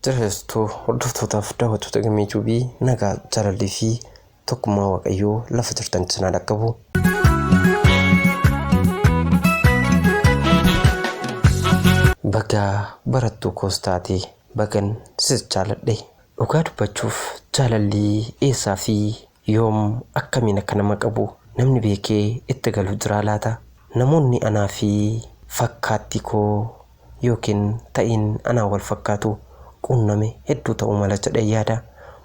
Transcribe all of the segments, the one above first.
Jirreessituu hordoftootaaf daawwattoota gammee juubii nagaa jaalallee fi tokkummaa waaqayyoo lafa jirtan cinaa dhaqqabu. Bagaa barattuu koos taate bagan sis jaaladhe. Dhugaa dubbachuuf jaalalli eessaa fi yoom akkamiin akka nama qabu namni beekee itti galu jiraa laata? Namoonni anaa fi fakkaattii koo ykn ta'iin anaan wal fakkaatu quunname hedduu ta'uu mala jedheen yaada.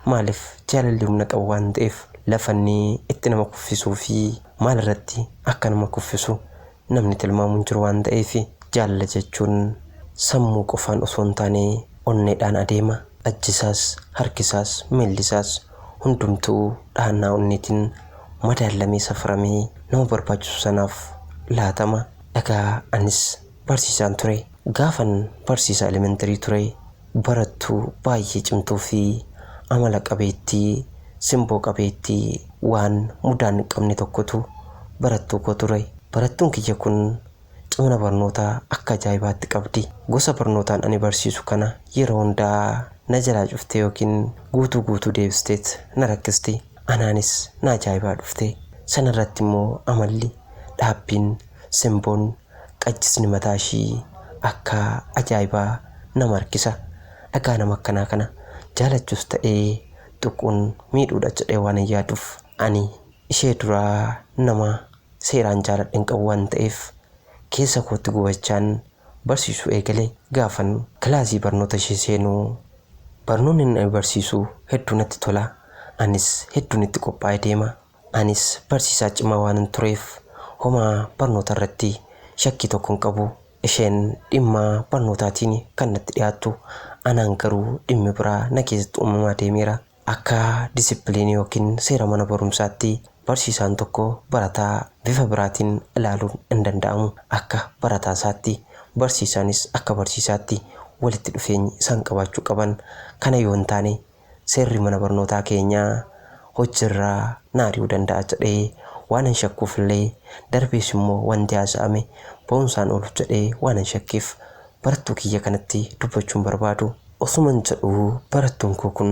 Maaliif jaalalli humna qabu waan ta'eef lafa inni itti nama kuffisuu fi maal irratti akka nama kuffisu namni tilmaamu hin jiru waan ta'eef jaalala jechuun sammuu qofaan osoo hin taane onneedhaan adeema. Ajjisaas, harkisaas, miillisaas hundumtuu dhahannaa onneetiin madaallamee safaramee nama barbaachisu sanaaf laatama. Egaa anis barsiisaan ture. Gaafan barsiisaa elementarii ture barattuu baay'ee cimtuu fi amala qabeettii, simboo qabeettii, waan mudaa hin qabne tokkotu barattuu koo ture. Barattuun kiyya kun cimina barnootaa akka ajaa'ibaatti qabdi. Gosa barnootaan ani barsiisu kana yeroo hundaa na jalaa cuftee ykn guutuu guutuu deebisteet na rakkisti. Anaanis na ajaa'ibaa dhufte. Sana irratti immoo amalli, dhaabbiin, simboon, qachisni mataa ishii akkaa ajaa'ibaa nama harkisa. Dhagaa nama akkanaa kana jaalachuus ta'ee tuquun miidhuudha jedhee waanan yaaduuf ani ishee dura nama seeraan jaaladhe hin qabu waan ta'eef keessa kootti gubachaan barsiisuu eegale. Gaafan kilaasii barnoota ishee seenu barnoonni inni barsiisu hedduu natti tola. Anis hedduun itti qophaa'ee deema. Anis barsiisaa cimaa waanan tureef homaa barnoota irratti shakkii tokko hin qabu. Isheen dhimma barnootaatiin kan natti dhiyaattu, anaan garuu dhimmi biraa na keessatti uumamaa deemeera. Akka disipiliinii yookiin seera mana barumsaatti barsiisaan tokko barataa bifa biraatiin ilaaluun hin danda'amu. Akka barataa isaatti, barsiisaanis akka barsiisaatti walitti dhufeenyi isaan qabaachuu qaban kana yoo hin taane seerri mana barnootaa keenyaa hojjirraa na ari'uu danda'a jedhee waanan shakkuufillee darbees immoo wanti haasa'ame ba'umsaan ooluf jedhee waanan shakkeef barattuu kiyya kanatti dubbachuun barbaadu. Osuman jedhuu barattuun koo kun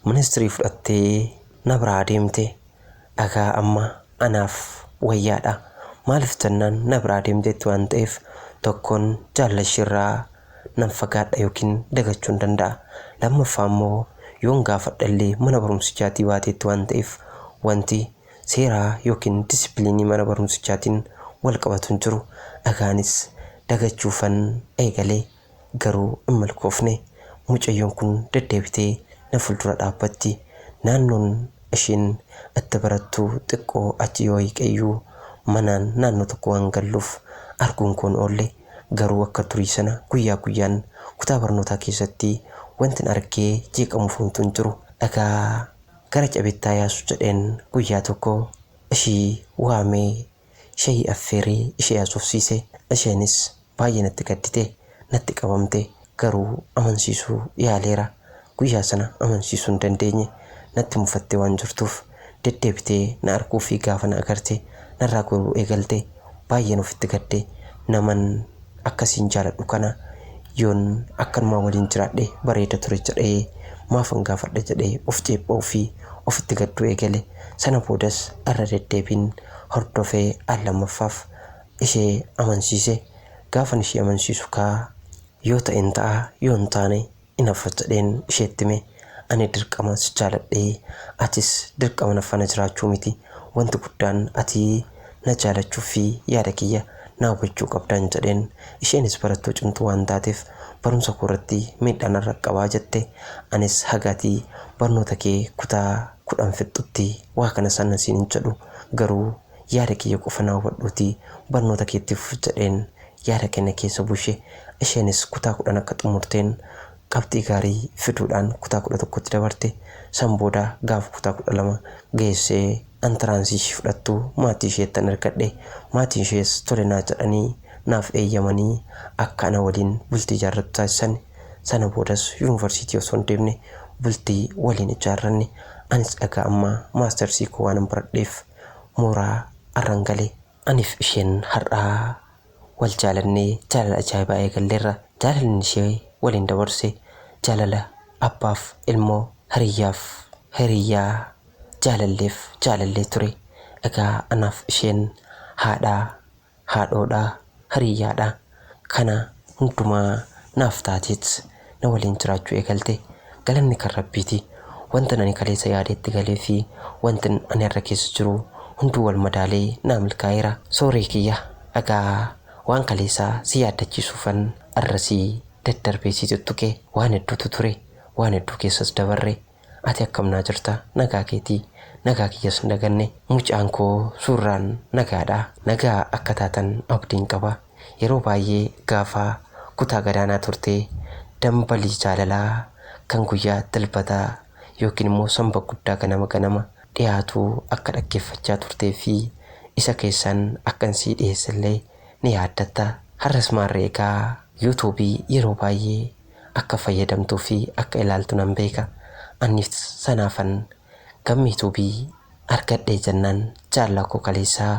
ministrii fudhattee na biraa deemte. dhagaa amma anaaf wayyaadha maalif jennaan na biraa deemteetti waan ta'eef tokkoon jaalla ishiirraa nan fagaadha yookiin dagachuun danda'a lammaffaa immoo yoon gaafadha illee mana barumsichaatii baateetti waan ta'eef wanti seeraa yookiin disipiliinii mana barumsichaatiin wal qabatu hin jiru dhagaanis dagachuufan eegale Garuu hin milkoofne. Mucayyoon kun deddeebitee na fuuldura dhaabbatti. Naannoon ishiin itti barattu xiqqoo achi yoo hiiqeyyuu manaan naannoo tokko waan galluuf arguun koo hin oolle. Garuu akka durii sana guyyaa guyyaan kutaa barnootaa keessatti wantin argee jeeqamuuf homtuu hin jiru. Dhagaa gara cabetti haa yaasu jedheen guyyaa tokko ishii waamee Shayii affeeree ishee haasofsiise. Isheenis baay'ee natti gaddite. Natti qabamte. Garuu amansiisuu yaaleera. Guyyaa sana amansiisuu hin dandeenye. Natti mufattee waan jirtuuf. Deddeebitee na arguu fi gaafa na agarte narraa goruu eegalte. Baay'een ofitti gadde. Naman. akka siin jaaladhu kana yoon akkanumaa waliin jiraadhe bareeda ture jedhee maafan gaafadha jedhee of ceepha'uu fi ofitti gadduu eegale. Sana boodas irra deddeebiin hordofee al lammaffaaf ishee amansiise. Gaafan ishee amansiisu kaa yoo ta'en ta'a yoo hin taane inaffa jedheen isheetti hime. Ani dirqamaan si jaaladhe, atis dirqama na fana jiraachuu miti. Wanti guddaan ati na jaalachuuf fi yaada kiyya na hubachuu qabdan jedheen. Isheenis barattuu cimtuu waan taateef barumsa koo irratti miidhaa narra qaqqabaa jette. Anis haga ati barnoota kee kutaa 10 fixxutti waa kana sana siin hin jedhu garuu Yaada kiyya qofa na hubadhuutii barnoota kee itti fufi jedheen yaada kenna keessa bushe. Isheenis kutaa 10 akka xumurteen qabxii gaarii fiduudhaan kutaa 11tti dabarte. San booda gaafa kutaa 12 geessee antiraansii ishii fudhattu maatii isheettan ergadhe. Maatiin ishees tole naa jedhanii naaf eeyyamanii akka ana waliin bultii ijaarrattu taasisan. Sana boodas yunivarsiitii osoo hin deemne bultii waliin ijaarranne. Anis egaa amma maastersii koo waanan baradheef. mooraa arran gale. Anif isheen har'a wal jaalannee jaalala ajaa'ibaa eegalleerra. Jaalalli ani ishee waliin dabarse jaalala abbaaf ilmoo, hiriyyaaf hiriyyaa, jaalalleef jaalallee ture. Egaa anaaf isheen haadha, haadhoodha, hariiyyaadha. Kana hundumaa naaf taateet na waliin jiraachuu eegalte. Galanni kan Rabbiiti. Wantin ani kaleessa yaade itti galee fi wantin ani har'a keessa jiru hunduu wal madaalee naa milkaa'eera. Sooree kiyya, egaa waan kaleessaa si yaaddachiisuufan har'a si daddarbee si tuttuqe. Waan hedduutu ture. Waan hedduu keessas dabarre. Ati akkam naa jirta nagaa keeti nagaa kiyyas hin daganne mucaan koo suurraan nagaadha nagaa akka taatan abdiin qaba yeroo baay'ee gaafa kutaa gadaanaa turte dambalii jaalalaa kan guyyaa dilbataa yookiin immoo sanba guddaa ganama ganama dhiyaatu akka dhaggeeffachaa turtee fi isa keessaan akkan sii dhiyeessellee ni yaaddatta har'as maarree egaa youtube yeroo baay'ee akka fayyadamtuu fi akka ilaaltu nan beeka annis sanaafan gammi tube argadhee jennaan jaallaa koo kaleessaa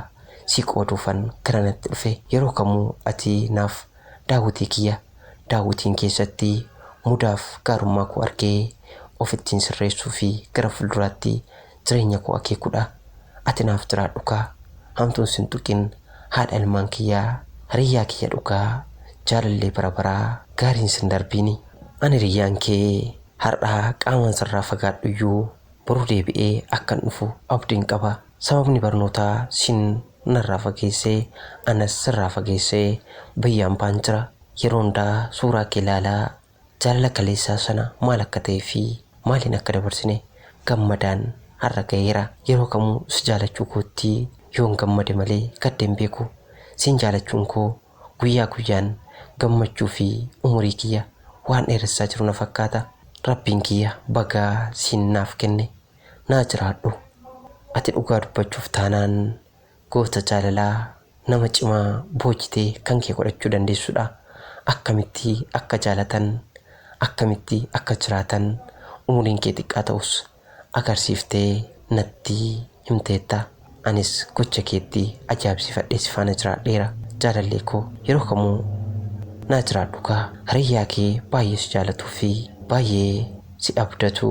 sii qooduufan gara natti dhufe yeroo kamuu ati naaf daawwitii kiyya daawwitiin keessatti mudaaf gaarummaa koo argee ofittiin sirreessuu fi gara fulduraatti jireenya koo akeekudha ati naaf jiraadhukaa hamtuun sin tuqin haadha ilmaan kiyyaa hiriyyaa kiyya dhugaa jaalallee bara baraa gaariin sin darbiini an hiriyyaan kee har'a qaamaan sirraa fagaadhuyyuu boru deebi'ee akkan dhufu abdiin qaba sababni barnootaa siin narraa fageesse anas sirraa fageesse biyya ambaan jira yeroo hundaa suuraa kee laalaa Jaalala kaleessaa sana maal akka ta'e fi maaliin akka dabarsine gammadaan har'a gaheera. Yeroo kamuu si jaalachuu kootti yoon gammade malee gadde hin beeku. Siin jaalachuun koo guyyaa guyyaan gammachuu fi umurii kiyya waan dheeressaa jiru na fakkaata. Rabbiin kiyya baga siin naaf kenne. Naa jiraadhu. Ati dhugaa dubbachuuf taanaan Goota jaalalaa nama cimaa boojite kan kee godhachuu dandeessudha. Akkamitti akka jaalatan, akkamitti akka jiraatan umuriin kee xiqqaa ta'us agarsiiftee natti himteetta. Anis gocha keetti ajaa'ibsiifadhee si faana jiraadheera. Jaalallee koo yeroo kamuu naa jiraadhu kaa. Hariyyaa kee baay'ee si jaalatuu fi baay'ee si abdatu.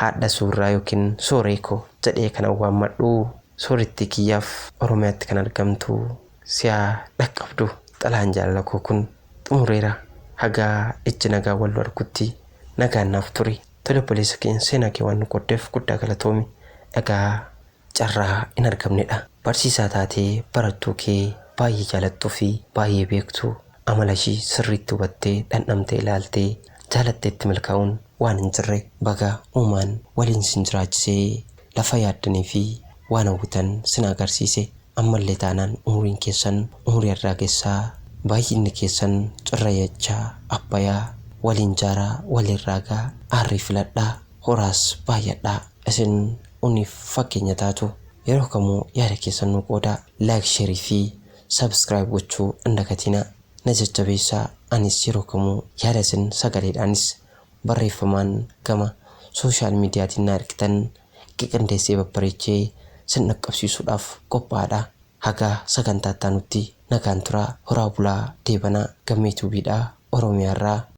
Haadha Suurraa yookiin Sooree ko jedhee kanan waammadhu Soorettii kiyyaaf Oromiyaatti kan argamtu si haa dhaqqabdu xalayaan jaalala koo kun xumureera haga ijji nagaan wal nu argutti nagaan naaf turi tole obboleessa keenya seenaa kee waan nu qooddeef guddaa galatoomi egaa carraa hin argamnedha. Barsiisaa taatee barattuu kee baay'ee jaalattuu fi baay'ee beektu amala ishii sirriitti hubattee dhandhamtee ilaaltee jaalatteetti milkaa'uun waan hin jirre. Baga uumaan waliin isin jiraachise lafa yaaddanii fi waan hawwitan sin haa agarsiise. Ammallee taanaan umuriin keessan umurii arraagessaa baay'inni keessan cirrayacha abbayaa waliin jaaraa waliin raagaa aarrii filadhaa horaas baay'adhaa. Isin uniif fakkeenya taatu. Yeroo kamuu yaada keessan nuu qoodaa. Like share fi subscribe gochuu hin dagatinaa. Na jajjabeessaa anis yeroo kamuu yaada isin sagaleedhaanis barreeffamaan gama social mediatiin na ergitan qiqindeessee babbareechee sin dhaqqabsiisuudhaaf qophaa'adha. Haga sagantaa ittaanutti nagaan turaa horaa bulaa deebanaa Gammee Tube dha Oromiyaa irraa.